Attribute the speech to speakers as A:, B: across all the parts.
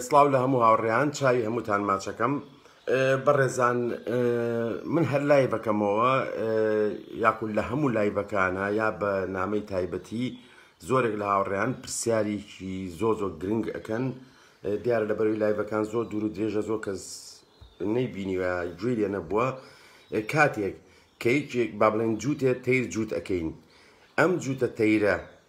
A: سڵاو لە هەموو هاوڕێیان چاوی هەمووتان ماچەکەم بەڕێزان من هەر لای بەکەمەوە یاخود لە هەموو لای بەکانە یا بە نامەی تایبەتی زۆرێک لە هاوڕێیان پرسیارێکی زۆ زۆ گرنگ ئەەکەن دیارە لە بەروی لایڤەکان زۆر دوور و درێژە زۆر کەس نەیبینیوە گوێ لێ نەبووە کاتێک کە یەکێک با بڵێن جووتێ تەیر جووت ئەەکەین ئەم جووتە تەیرە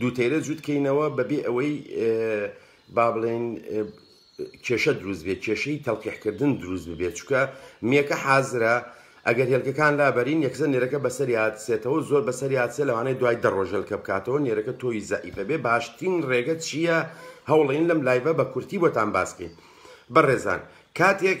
A: دوو تەیرە جووت کەینەوە بەبێ ئەوەی با بڵێن کێشە دروست بێت کێشەی تەلقیحکردن دروست ببێت چکە میەکە حازرە ئەگەر هێلکەکان لابەرین یەکزە نێرەکە بەسەریات سێتەوە زۆر بەسەریات سێ لەوانەیە دوای دەڕۆژەلکە بکاتەوە نێرەکە تۆی زەعیفە بێ باشترین ڕێگە چییە هەوڵین لەم لایبە بە کورتی بۆتان باسکەین بەڕێزان کاتێک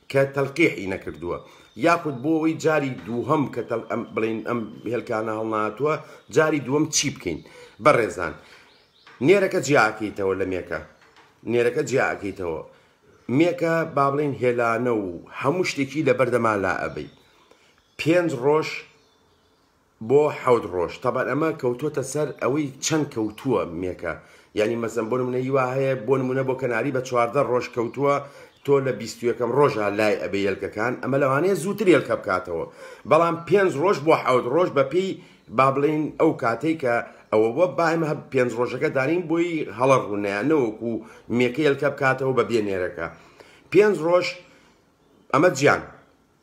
A: کە تەلقیحی نەکردووە یاخود بۆ ئەوەی جاری دووهەم کە تەل ئەم بڵین ئەم هێلکانە هەڵناتووە جاری دووەم چی بکەین بەڕێزان نێرەکە جیاکەیتەوە لە مێکە نێرەکە جیاکەیتەوە مێکە با بڵین هێلانە و هەموو شتێکی لە بەردەما لا ئەبەی پێنج ڕۆژ بۆ حەوت ڕۆژ تەبعەن ئەمە کەوتۆتە سەر ئەوەی چەن کەوتووە مێکە یانی مەسەن بۆ نمونە ی وا هەیە بۆ نمونە بۆ کەناری بە چواردە ڕۆژ کەوتووە تۆ لە بیست و یەکەم ڕۆژا لای ئەبێ یەلکەکان ئەمە لەوانەیە زووتر یەلکە بکاتەوە بەڵام پێنج ڕۆژ بۆ حەوت ڕۆژ بە پێی با بڵێین ئەو کاتەی کە ئەوە بووە با ئێمە هەب پێنج ڕۆژەکە دانین بۆی هەڵە ڕوو نەیە نەوەکو مێکە یەلکە بکاتەوە بە بێ نێرەکە پێنج ڕۆژ ئەمە جیان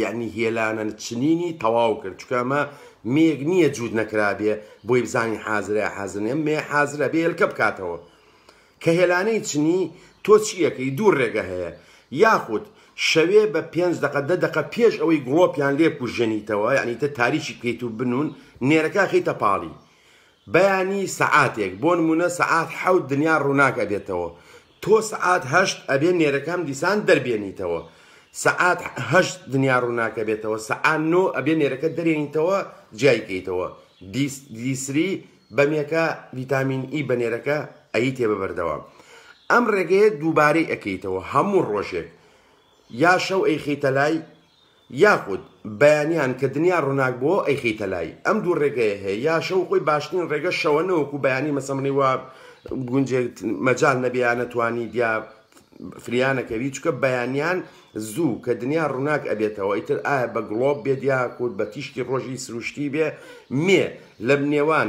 A: یەعنی هێلانە چنینی تەواو کرد چونکە ئەمە مێیەک نییە جووت نەکرابێ بۆی بزانین حازرە یا حازر نیە مێ حازرە بێ هێلکە بکاتەوە کە هێلانەی چنی تۆ چیەکەی دوو ڕێگە هەیە یاخود شەوێ بە پێنج دقە دە دقە پێش ئەوەی گڵۆپیان لێ کوژێنیتەوە یعنی تە تاریکی بکەیت و بنون نێرەکە خیتە پاڵی بەیانی سەعاتێک بۆ نموونە سەعات حەوت دنیا ڕووناک ئەبێتەوە تۆ سەعات هەشت ئەبێ نێرەکام دیسان دەربێنیتەوە سەعات هەشت دنیا ڕووناک ئەبێتەوە سەعات نۆ ئەبێ نێرەکە دەرێنیتەوە جیای کەیتەوە دیسری بەمێکە ڤیتامین ئی بە نێرەکە ئەیتێ بە بەردەوام ئەم ڕێگەیە دووبارەی ئەکەیتەوە هەموو ڕۆژێک یا شەو ئەیخیتە لای یاخود بەیانیان کە دنیا ڕوناک بۆوە ئەیخیتە لای ئەم دوو ڕێگەیە هەیە یا شەو خۆی باشترین ڕێگە شەوە نەوەکو بەیانی مەسەمنی وا گونجێ مەجال نەبیان نەتوانی دیا فریانەکەوی چکە بەیانیان زوو کە دنیا ڕوناک ئەبێتەوە ئیتر ئایا بە گڵۆب بێت یا کورد بە تیشکی ڕۆژی سروشتی بێ مێ لە نێوان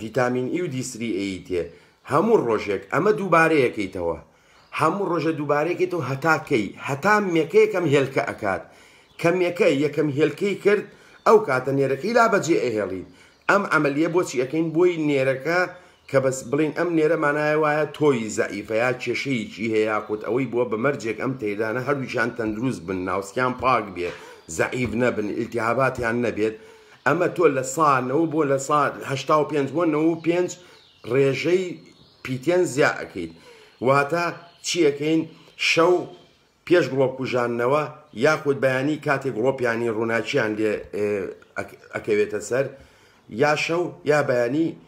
A: ڤیتامین ئی و دی سری ئێی تێ هەموو ڕۆژێک ئەمە دووبارەیەکەیتەوە هەموو ڕۆژە دووبارەیەکەیتەوە هەتا کەی هەتا مێکە یەکەم هێلکە ئەکات کە مێکە یەکەم هێلکەی کرد ئەو کاتە نێرەکەی لا بەجێ ئەهێڵیت ئەم عەمەلیە بۆچی ئەکەین بۆی نێرەکە کە بەس بڵێین ئەم نێرە مانای وایە تۆوی زەعیفە یا کێشەیەکی هەیە یاخود ئەوەی بووە بە مەرجێک ئەم تەیرانە هەردووکیان تەندروست بن ناوسکیان پاک بێ زەعیف نەبن ئیلتیهاباتیان نەبێت ئەمە تۆ لە سا نەوە بۆ لە سا هەشتا و پێنج بۆ نەوە و پێنج ڕێژەی پیتێن زیا ئەکەیت واتە چیەکەین شەو پێش گڵۆپ کوژاندنەوە یاخود بەیانی کاتێک گڵۆپیانی ڕووناکییان لێ ئەکەوێتە سەر یا شەو یا بەیانی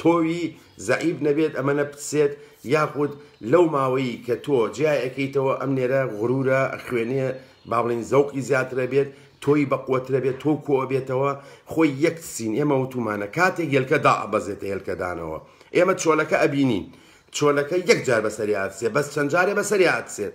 A: تۆوی زەعیف نەبێت ئەمە نەپتسێت یاخود لەو ماوەی کە تۆ جیا ئەکەیتەوە ئەم نێرە غرورە ئەخوێنێ بابڵێین زەوقی زیاترە بێت تۆوی بەقوەترە بێت تۆو کۆ ئەبێتەوە خۆی یەک تسین ئێمە وتومانە کاتێک هێلکە دائەبەزێتە هێلکە دانەوە ئێمە چۆلەکە ئەبینین چۆلەکە یەک جار بەسەریا ئەتسێ بەس چەند جارێ بەسەریا ئەتسێت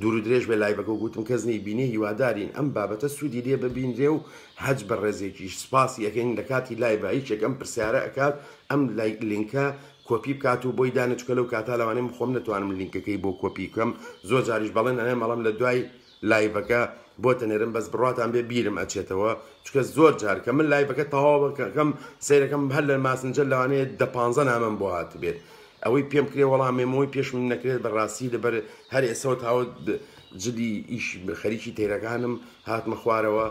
A: دوورو درێژ بێ لایڤەکە و گوتم کەس نەی بینێ هیوادارین ئەم بابەتە سوودی لێ ببینرێ و هەچ بەڕێزێکیش سپاسی ئەکەین لەکاتی لایڤا یەکێک ئەم پرسیارە ئەکات ئەم لینکە کۆپی بکات و بۆی دانێ چونکە لەو کاتە لەوانەیە من خۆم نەتوانم لینکەکەی بۆ کۆپی بکەم زۆر جاریش بەڵێن ئەنێم بەڵام لە دوای لایڤەکە بۆت ئەنێرم بەس بڕواتان بێ بیرم ئەچێتەوە چونکە زۆر جار کە من لایڤەکە تەواو ئەکەم سەیرەکەم هەر لە ماسنجەر لەوانەیە دە پانزە نامەم بۆ هاتبێت ئەوەی پێم کرێ وەڵا مێمۆی پێشمم نەکرێت بە ڕاستی لەبەر هەر ئێسەوە تاوت جلی ئیش خەریکی تەیرەکانم هاتمە خوارەوە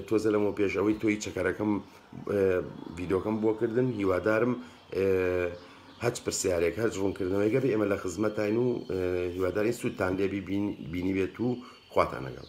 A: تۆزە لەمە پێش ئەوەی تۆی چەکەرەکەم ڤیدۆکەم بۆ کردن هیوادارم هەچ پرسیارێک هەر ڕوونکردنەوەی گەبێ ئێمە لە خزمەتین و هیوادارین سوودتان لێبی بینی بێت و خواتان لەگەڵ